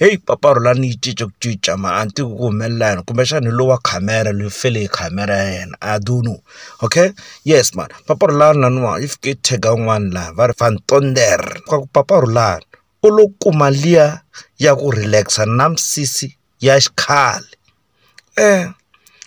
heyi mpfapfarhulo a ni yi cinca ku cinca mara a ni tivi ku humelela yini kumbexana hi lowa khamera loyi fele hi khamera ya yena I don't know okay yes mhani mpfapfarhulo wa laniwa if ke tag un'wana laha va ri van tonder ka ku mpfapfarhulo u lo kuma liya ya ku relax na misisi ya xikhale.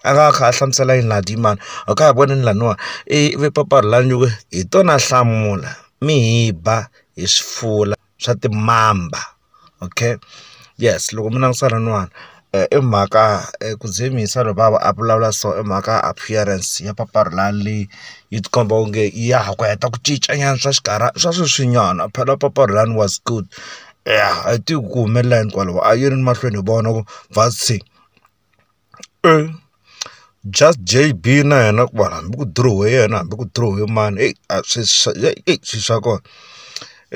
a nga kha a hlamusela yini laha dii mhani a ka ha voni ni laniwa i vi papalata la nge hi tona hlamula mi hi ba hi swifula swa timamba okay yes loko mi langutisa laniwani i mhaka ku dzunisa loko va va a vulavula so i mhaka appearance ya papalata leyi yi ti komba onge ya ha ku heta ku cinca nyana swa xinkarhana swa sweswinyana phela papalata lani was good. ya a yi tivi ku humelela yini kwalaho a yi ri mahlweni hi vona ku va se just JB na yena ku va hambi ku dirowe yena hambi ku dirowe mani eyi a swi swa eyi swi swa kona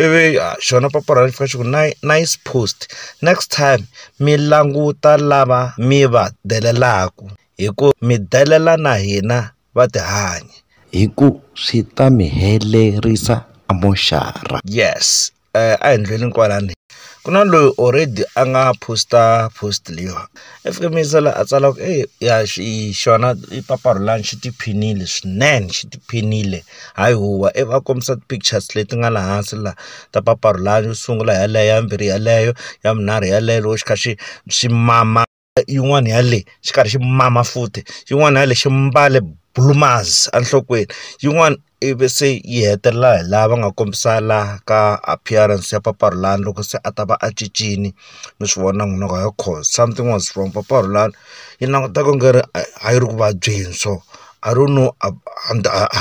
ivi xona papa ra fika xi ku nice post next time mi languta lava mi va delelaku hi ku mi delela na hina va tihanyi hi ku swi ta mi helerisa a moxara yes. a hi ndleleni kwalani ku na loyi already a nga post-a post leyiwani i fike mi yingisela a tsala ku ey ya xi xona i papa Rhulani xi tiphinile swinene xi tiphinile hayi huwa i va kombisa ti-pictures leti nga laha hansi la ta papa Rhulani yo sungula yeleyo ya vumbirhi yeleyo ya vunharhu yeleyo loko xi kha xi xi mama. yin'wana ya le xi karhi xi mama futhi yin'wana ya le xi mbale blue mars enhlokweni yin'wana i vi se yi hetelela hi laha va nga kombisa laha ka appearance ya papa Rhulani loko se a ta va a cincile mi swi vona n'wina ku hayikhona cause something was wrong papa Rhulani yi languta ku nga ri a yi ri ku vabyeni so I don't know a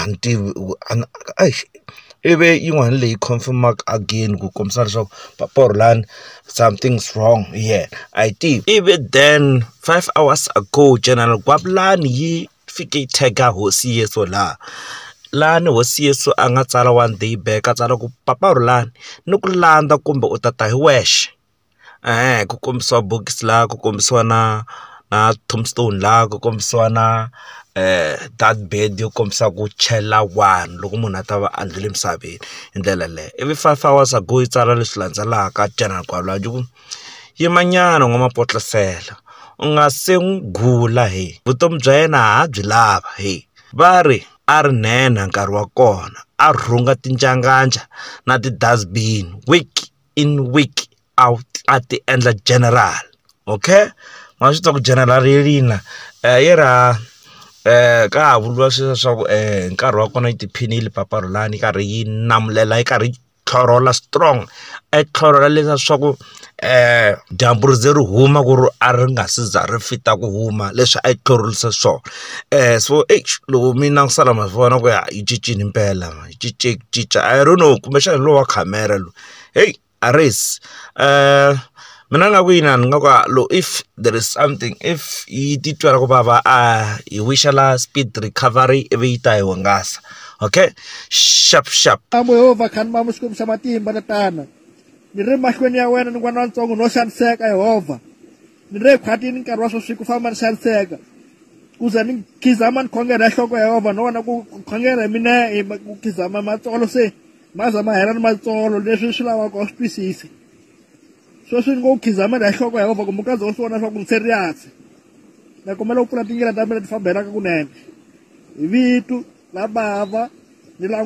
ni tivi ku a ni . ivi yin'wana leyi confirm-aka again ku kombisa leswaku papa or lani something is wrong hi yena a hi tivi ivi then five hours ago general Gwavulani yi fike yi tag-a hosi Yesu laha lani hosi Yesu a nga tsala one day back a tsala ku papa Rhulani ni ku landza kumbe u ta ta hi wexe. e-e ku kombisiwa bokisi laha ku kombisiwa na na tombstone laha ku kombisiwa na date birth yo kombisa ku chela wani loko munhu a ta va a ndlhula emisaveni hi ndlela yaleyo ivi five hours ago yi tsala leswi landzelaka general Gwala yi ku yimanyana n'wamapotlisela u nga se n'wi gula he vutomi bya yena ha byi lava he va ri a ri nhenha nkarhi wa kona a rhunga tinjanganja na ti-dust bin . in week out a ti endla general okay ma swi tiva ku general yelina um eh, yi ra um ka ha vuriwa sweswo swa ku um nkarhi wa kona yi tiphini yi lipapalulani yi karhi yi namulela yi karhi yi tlhorola strong a yi tlhorola leswa swa ku um dyambu ri ze ri huma ku ri a ri nga si za ri fita ku huma leswi a yi tlhorolisa swona um so e loko mina ku sala ma vona ku ya yi cincini mpela yi cince ku cinca i don't know kumbexana hi lowa khamera lowu Hey, Aris. Uh, mina nga ku yina ni nga ku lo if there is something if yi titwela ku vava a hi wishela speed recovery ivi yi ta hi hungasa okay sharp sharp amo yehova khani mamo xikwembu xa matimba ni tana ni ri mahlweni ya wena ni n'wana wa ntsongo no xaniseka yehova ni ri ekhwatini nkarhi wa sweswi ku famba ni xaniseka ku ze ni khizama ni khongela ya nhloko ya yehova no vona ku khongela hi mina ku khizama matsolo se maza ma hela ni matsolo leswi swi lavaka u swi twisise sweswi ni ngo u khizamela hi nhloko ya vava kumbe u kaze u swi vona swa ku ni serious ni kombela u pfula tindlela ta mina ti famba helaka kunene hi vitu la bava ni la